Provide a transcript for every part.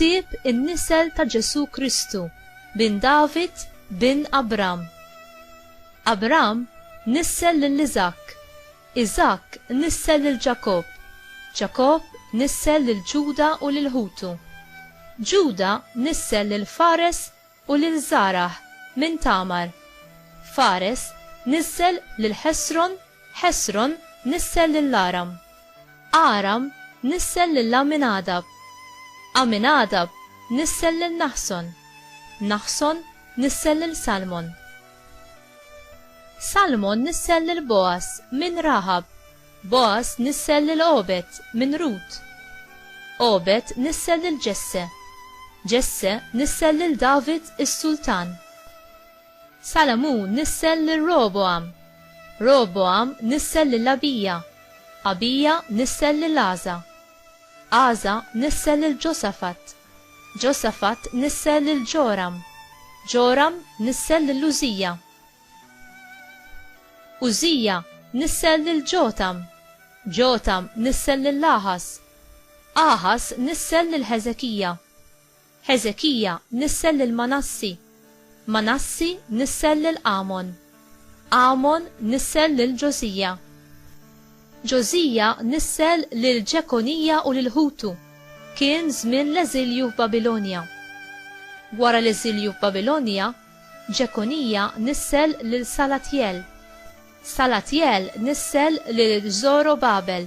Ktieb in-nisel ta' Ġesù Kristu bin David bin Abram. Abram nissel lil Iżakk. Iżakk nissel lil Ġakobb, Ġakobb nissel lil Ġuda u lil ħutu. Ġuda nissel lil Fares u lil Żarah minn Tamar. Fares nissel lil Ħesron, Ħesron nissel lil Aram. Aram nissel lil Għaminadab. Għaminadab nissel lil Naħson. Naħson nissel lil Salmon. Salmon nissel lil Bogħaż minn Raħab, Bogħaż nissel lil Għobed minn Rut. Għobed nissel lil Ġesse, Ġesse nissel lil David is-sultan. Salamun nissel lil Rogħbogħam, Rogħbogħam nissel lil Abija, Abija nissel lil Għaża, Għaża nissel lil Ġosafat. Ġosafat nissel lil Ġoram. Ġoram nissel lil Użija. Użija nissel lil Ġotam. Ġotam nissel lil Aħas. Aħas nissel lil Ħeżekija. Ħeżekija nissel lil Manassi. Manassi nissel lil Għamon. Għamon nissel lil Ġożija. Ġożija nissel lil Ġekonija u lil ħutu. Kien żmien l-eżilju f'Babilonja. Wara l-eżilju f'Babilonja, Ġekonija nissel lil Salatjel. Salatjel nissel lil Żorobabel.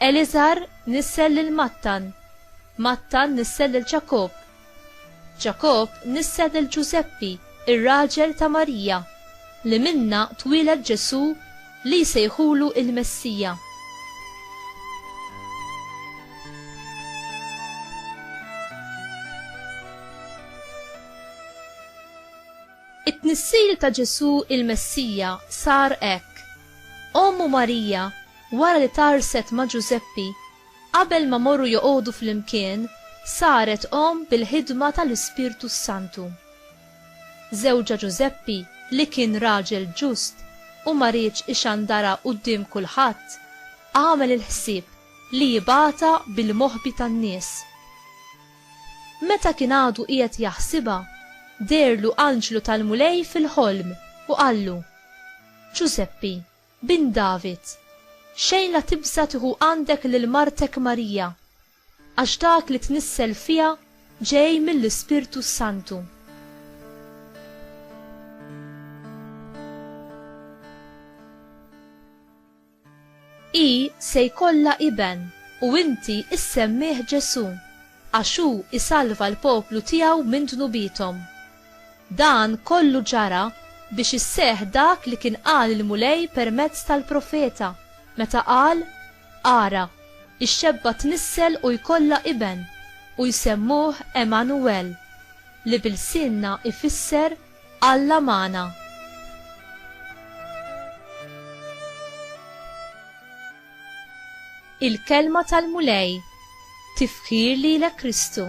Eliżar nissel lil Mattan, Mattan nissel lil Ġakobb, Ġakobb nissel lil Ġużeppi, ir-raġel ta' Marija, li minnha twieled Ġesù li jsejħulu il-Messija. It-tnissil ta' Ġesù il-Messija sar hekk. Ommu Marija, wara li tgħarrset ma' Ġużeppi, qabel ma morru joqogħdu flimkien, saret omm bil-ħidma ta' l-Ispirtu s-Santu. Żewġha Ġużeppi, li kien raġel ġust u ma riedx ixandarha quddiem kulħadd, għamel il-ħsieb li jibgħatha bil-moħbi tan-nies. Meta kien għadu qiegħed jaħsibha, deherlu anġlu tal-Mulej fil-ħolm u qallu, Ġużeppi, bin David, xejn la tibża' tieħu għandek lil martek Marija, għax dak li tnissel fiha ġej mill-Ispirtu s-Santu. Hi se jkollha iben, u inti issemmih Ġesù, għax hu jsalva l-poplu tiegħu minn dnubiethom. Dan kollu ġara biex isseħħ dak li kien qal il-Mulej permezz tal-profeta, meta qal, Ara, ix-xebba tnissel u jkollha iben, u jsemmuh Għemanuwel, li b'ilsienna jfisser Alla magħna. Il-Kelma tal-Mulej, tifħir lilek Kristu.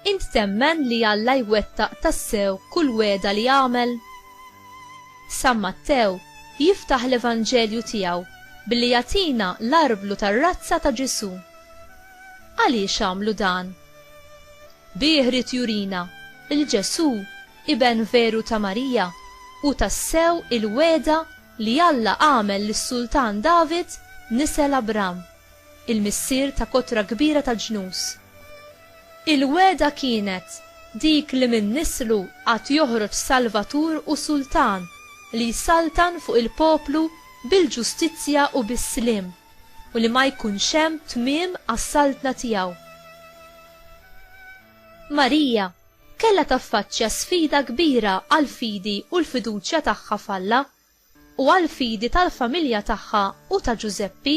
Int temmen li Alla jwettaq tassew kull wegħda li għamel? San Mattew jiftaħ l-Evanġelju tiegħu billi jagħtina l-arblu tar-razza ta' Ġesù. Għaliex għamlu dan? Bih ried jurina li Ġesù, iben veru ta' Marija, hu tassew il-wegħda li Alla għamel lis-Sultan David nisel Abram. il-missier ta' kotra kbira tal-ġnus. Il-wegħda kienet dik li minn nislu għad joħroġ Salvatur u Sultan li jsaltan fuq il-poplu bil-ġustizzja u bis-sliem, u li ma jkunx hemm tmiem għas-saltna tiegħu. Marija kellha taffaċċja sfida kbira għall-fidi u l-fiduċja tagħha f'Alla, u għall-fidi tal-familja tagħha u ta' Ġużeppi,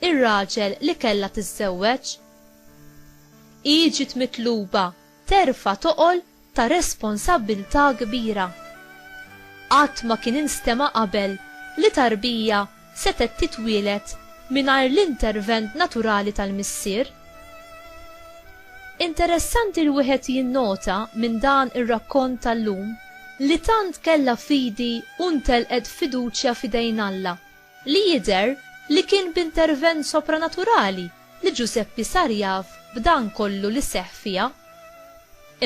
ir-raġel li kellha tiżżewweġ. Hi ġiet mitluba terfa' toqol ta' responsabbiltà kbira. Qatt ma kien instema' qabel li tarbija setgħet titwieled mingħajr l-intervent naturali tal-missier. Interessanti li wieħed jinnota minn dan ir-rakkont tal-lum li tant kellha fidi u ntelqet fiduċja f'idejn Alla li jidher li kien b'intervent sopranaturali li Ġużeppi sar jaf b'dan kollu li seħħ fiha.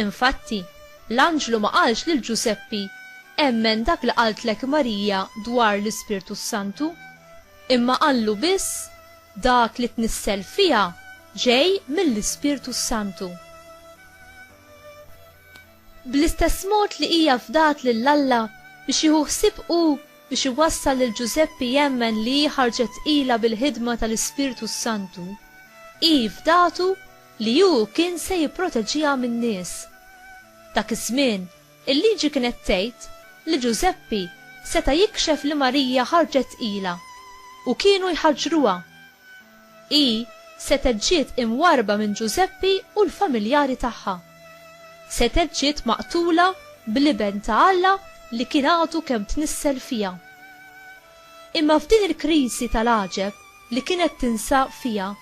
Infatti, l-anġlu ma qalx lil Ġużeppi, Emmen dak li qaltlek Marija dwar l-Ispirtu s-Santu, imma qallu biss, Dak li tnissel fiha ġej mill-Ispirtu s-Santu. Bl-istess mod li hija fdat lil Alla biex jieħu ħsieb hu biex iwassal lil Ġużeppi jemmen li hi ħarġet tqila bil-ħidma tal-Ispirtu s-Santu, hi fdatu li hu kien se jipproteġiha min-nies. Dak iż-żmien Il-Liġi kienet tgħid li Ġużeppi seta' jikxef li Marija ħarġet tqila u kienu jħaġġruha. Hi setgħet ġiet imwarrba minn Ġużeppi u l-familjari tagħha. Setgħet ġiet maqtula bl-Iben ta' Alla li kien għadu kemm tnissel fiha. Imma f'din il-kriżi tal-għaġeb li kienet tinsab fiha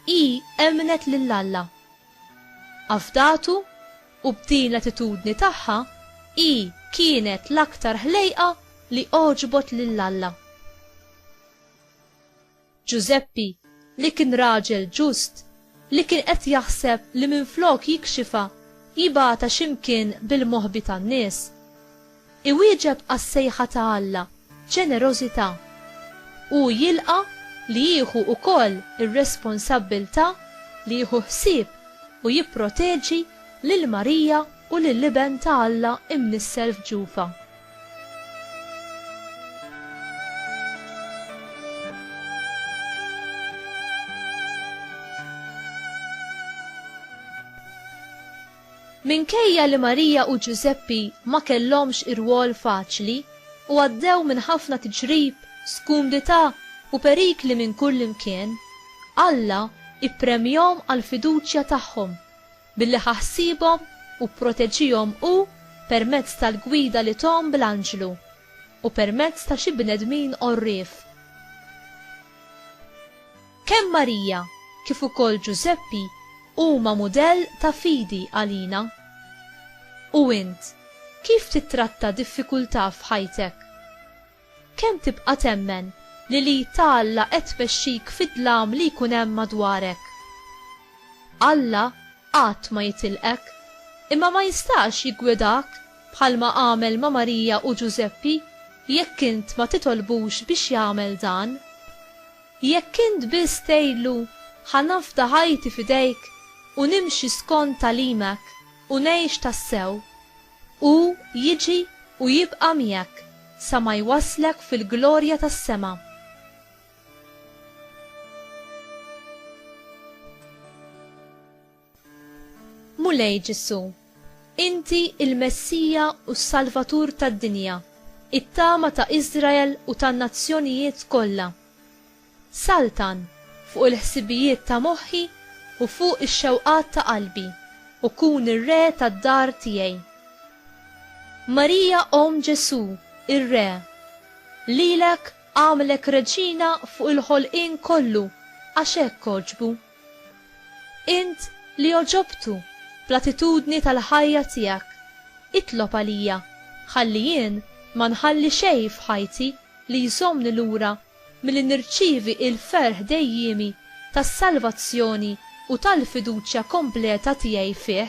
hi emmnet lil Alla. Afdatu, u b'din l-attitudni tagħha hi kienet l-aktar ħlejqa li għoġbot lil Alla. Ġużeppi, li kien raġel ġust, li kien qed jaħseb li minflok jikxifha, jibgħatha xi mkien bil-moħbi tan-nies, Iwieġeb għas-sejħa ta' Alla b'ġenerożità. Hu jilqa' li jieħu wkoll ir-responsabbiltà li jieħu ħsieb u jipproteġi lil Marija u lill-Iben ta' Alla imnissel f'ġufha. Minkejja li Marija u Ġużeppi ma kellhomx irwol faċli u għaddew minn ħafna tiġrib, skumdità u perikli minn kullimkien, Alla ppremjahom għall-fiduċja tagħhom billi ħa ħsiebhom u pproteġiehom hu permezz tal-gwida li thom bl-anġlu u permezz ta' xi bnedmin għorrief. Kemm Marija kif ukoll Ġużeppi huma mudell ta' fidi għalina. U int, kif tittratta diffikultà f'ħajtek? Kemm tibqa' temmen li l-id ta' Alla qed tmexxik fid-dlam li jkun hemm madwarek? Alla qatt ma jitilqek, imma ma jistax jiggwidak bħalma għamel ma' Marija u Ġużeppi jekk int ma titolbux biex jagħmel dan. Jekk int biss tgħidlu, Ħa nafda ħajti f'idejk u nimxi skont tagħlimek u ngħix tassew, hu jiġi u jibqa' miegħek sa ma jwasslek fil-glorja tas-sema. Mulej Ġesù, inti l-Messija u s-Salvatur tad-dinja, it-tama ta' Iżrael u tan-nazzjonijiet kollha. Saltan fuq il-ħsibijiet ta' moħħi u fuq ix-xewqat ta' qalbi u kun ir-Re tad-dar tiegħi. Marija Omm Ġesù, ir-Re, lilek għamlek Reġina fuq il-ħolqien kollu għax hekk għoġbu. Int li għoġobtu bl-attitudni tal-ħajja tiegħek, itlob għalija ħalli jien ma nħalli xejn f'ħajti li jżommni lura milli nirċievi l-ferħ dejjiemi tas-salvazzjoni u tal-fiduċja kompleta tiegħi fih.